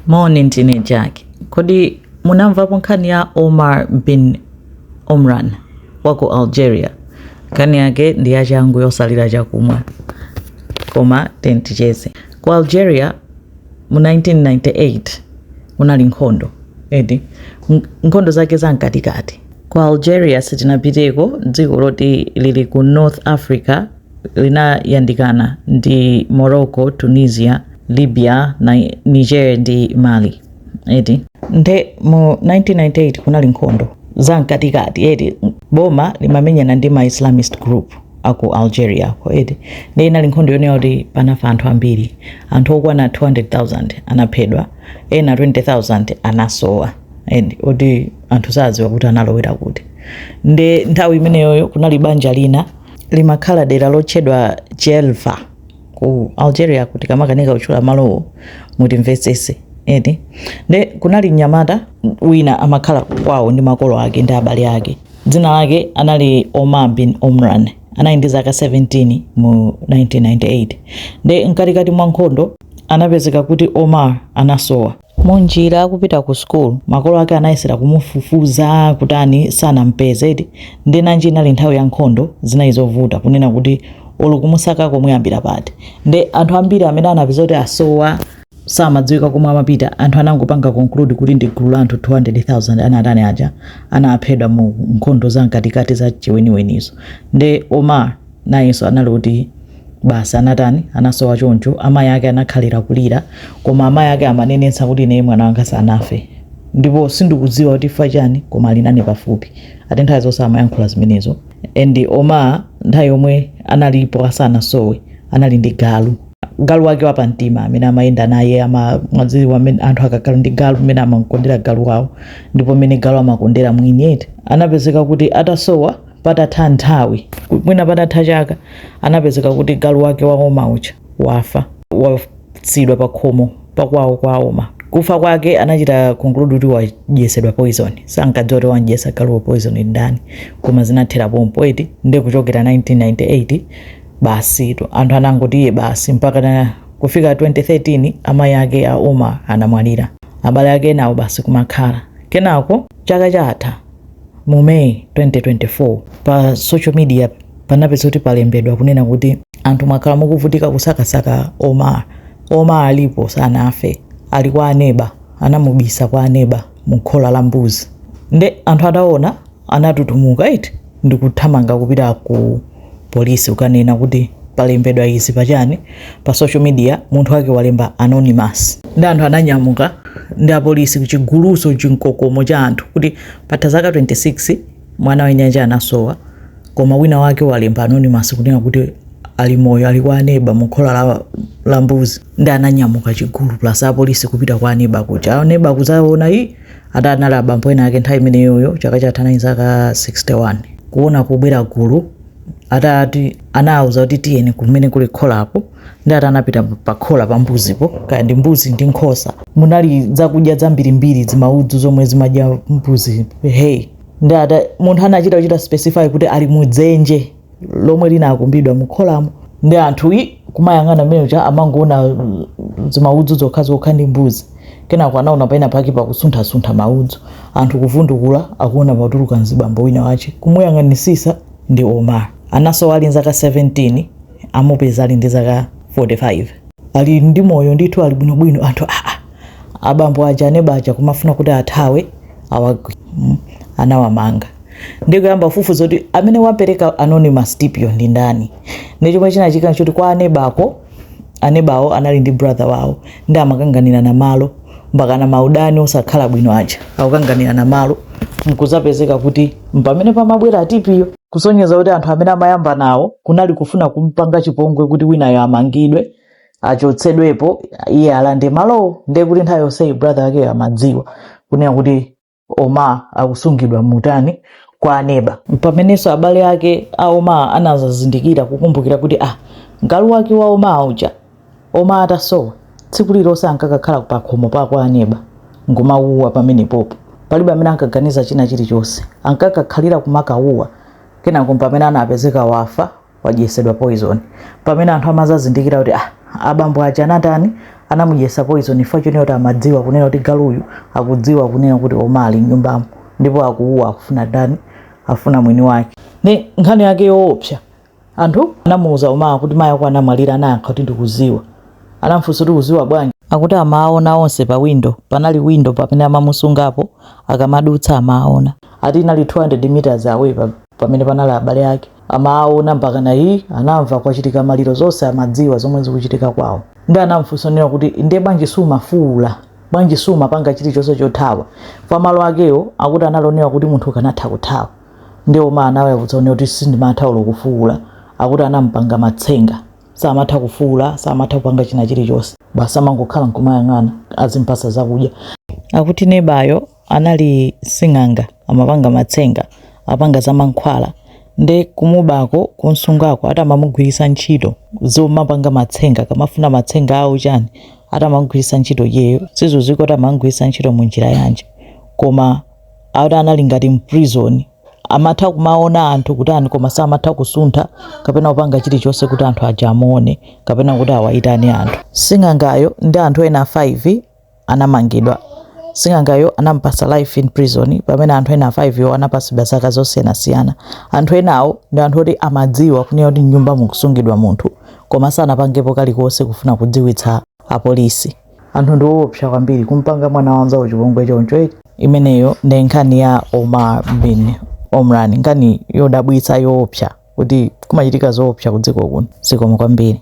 Moni ndine Jack. Kodi munamvapo nkhani ya Omar bin Omran wa ku Algeria? Nkhani yake ndi yachangu yosalira chakumwa, koma tenticheze. Ku Algeria mu 1998 munali nkhondo eti, nkhondo zake za mkatikati. Ku Algeria sitinapiteko, dziko loti lili ku North Africa linayandikana ndi Morocco, Tunisia, Libya, na Niger ndi Mali eti nde mu 1998 kunali nkhondo za mkatikati eti boma limamenyana ndi ma Islamist group aku Algeria ko eti nde inali nkhondo yonena kuti panafa anthu ambiri anthu okwana 200,000 anaphedwa ena 20,000 anasowa eti kuti anthu sadziwa kuti analowera kuti nde nthawi imeneyoyo kunali banja lina limakhala dera lotchedwa Djelfa ku Algeria tikamakanika kutchula malowo mutimvetsese eti nde kunali mnyamata wina amakhala kwawo ndi makolo ake ndi abale ake dzina lake anali Omar bin Omran anali ndi zaka 17 mu 1998 nde mkatikati mwa nkhondo anapezeka kuti Omar anasowa Munjira akupita ku school makolo ake anayesera kumufufuza kutani sanampeze eti nde nanji inali nthawi ya nkhondo zinali zovuta kunena kuti olo kumusakako muyambira pati nde anthu ambiri amene anapezeka kuti asowa samadziwika komwe amapita anthu anangopanga conclude kuti ndi gulu la anthu 200,000 anatani aja anaphedwa mu nkhondo za mkatikati za chiweniwenizo nde Omar nayenso anali kuti basi anatani anasowa choncho amayi ake anakhalira kulira koma amayi ake amanenetsa kuti ineyo mwana wanga sanafe ndipo sindikudziwa kuti fa chani koma ali nane pafupi ati nthawi zonse amayankhula zimenezo and Omar nthawi yomwe analipo asanasowe anali ndi galu galu wake wapamtima amene amayenda naye mumadziwa mmene anthu akakhala ndi galu mmene amakondera galu wawo ndipo mmene galu amakondera mwini eti anapezeka kuti atasowa patatha nthawi, mwina patatha chaka, anapezeka kuti galu wake wa Omar uja wafa, wasiyidwa pakhomo pakwawo kwa Omar. Kufa kwake anachita conclude kuti wadyetsedwa poison. Sankadziwa kuti wamdyetsa galuwo poison ndi ndani, koma zinathera pompo eti. Ndiye kuchokera 1998 basitu anthu anangoti iye basi mpaka na kufika 2013 amayi ake a Omar anamwalira, abale ake enawo basi kumakhala. Kenako chaka chatha Mu May 2024, pa social media panapezeka kuti palembedwa kunena kuti anthu mwakhala mukuvutika kusakasaka Omar. Omar alipo sanafe, ali kwa aneba, anamubisa kwa aneba mu khola la mbuzi. Nde anthu ataona anatutumuka eti ndikuthamanga kupita ku police ukanena kuti palembedwa izi pachani pa social media munthu wake walemba anonymous ndi anthu ananyamuka ndi apolisi chigulu so chinkokomo cha anthu kuti patha zaka 26 mwana wanu uja anasowa koma wina wake walemba anonymous kunena kuti ali moyo ali kwa aneba mukhola la, la mbuzi ndi ananyamuka chigulu plus apolisi kupita kwa aneba kuja aneba kuzaona iyi Ati anali abambo ena ake nthawi imeneyoyo chaka chatha anali zaka 61 kuona kubwera gulu ati ati anawauza kuti tiyeni kumene kuli kholapo ndi ati anapita pa khola pa mbuzipo kaya ndi mbuzi ndi nkhosa munali zakudya zambirimbiri zimaudzu zomwe zimadya mbuzi hey ndi ati munthu anachita kuchita specify kuti ali mudzenje lomwe linakumbidwa mu kholamo ndi anthu i kumayang'ana mmene muja amangoona mm, zimaudzu zokhazokha ndi mbuzi kenako anaona pena pake pakusunthasuntha maudzu anthu kuvundukula akuona patuluka mzibambo wina wace kumuyang'anitsitsa ndi omar anasowa ali nzaka 17 amupeza ali ndi zaka 45 ali ndi moyo ndithu ali bwinobwino anthu aa abambo aja aneba aja kumafuna kuti athawe awagwira mm, anawamanga ndi kuyamba kufufuza kuti amene wapereka anonymous tip yo ndi ndani ndi chomwe chinachitika nchoti kwa anebako anebawo anali ndi brother wawo ndi amakanganirana malo mpakana maudani osakhala bwino aja akukanganirana malo nkuzapezeka kuti mpamene panabwera tip yo kusonyeza kuti anthu amene amayambana nawo kunali kufuna kumpanga chipongwe kuti winayo amangidwe achotsedwepo iye alande malowo ndiye kuti nthawi yonseyi brother akeyo amadziwa kunena kuti omar akusungidwa mutani kwa aneba pamenenso abale ake a omar anazazindikira kukumbukira kuti ah galu wake wa omar uja omar atasowa tsiku lililonse ankakakhala pakhomo pa kwa aneba nkumawuwa pamenepopo palibe amene ankaganiza china chilichonse ankakakhalira kumakawuwa kenako pamene anapezeka wafa wadyetsedwa poison pamene anthu amazazindikira kuti ah, abambo aja anatani anamudyetsa poison chifukwa chonena kuti amadziwa kunena kuti galuyu akudziwa kunena kuti omar ali mnyumbamo ndipo akuuwa akufuna dani afuna mwini wake ni nkhani yake yoopsa anthu anamuuza omar kuti mayi ako anamwalira anayankha kuti ndikuziwa anamfunsa kuti uziwa bwanji akuti amaona onse pa windo panali windo pamene amamusungapo akamadutsa amaona ati inali 200 meters away pamene panali abale ake amaona mpakana mayi anamva kwachitika maliro zonse amadziwa zomwe zikuchitika kwawo ndi anamfunsa nena kuti ndiye bwanji sumafuula bwanji sumapanga chilichonse chothawa pa malo akewo akuti anaonera kuti munthu ukanatha kuthawa ndiye omar anawayankha zonena kuti sindimatha olo kufuula akuti anampanga matsenga samatha kufuula samatha kupanga china chilichonse basi amangokhala nkumayang'ana azimpasa zakudya akuti nebayo anali sing'anga amapanga matsenga apanga za mankhwala nde kumubako kunsungako atamamugwirisa ntchito zomapanga matsenga kamafuna matsenga awo chani atamamugwirisa ntchito yeyo sizuziko atamamugwirisa ntchito munjira yanji koma auti anali ngati mprison amatha kumaona anthu kutani koma samatha kusuntha kapena kupanga chilichonse kuti anthu aja amuone kapena kuti awaitane anthu sing'angayo ndi anthu ena 5 anamangidwa. Sing'angayo anamupasa life in prison pamene anthu ena 5 wo anapasidwa zaka zosiyanasiyana. Anthu enawo ndi anthu oti amadziwa kunena kuti mnyumba mukusungidwa munthu koma sanapangepo kalikonse kufuna kudziwitsa apolisi. Anthu ndi owopsa kwambiri kumpanga mwana wa mzawo chipongwe choncho eti. Imeneyo nde nkhani ya Omar bin Omran nkhani yodabwitsa yoopsa kuti kumachitika zoopsa kudziko kuno zikomo kwambiri.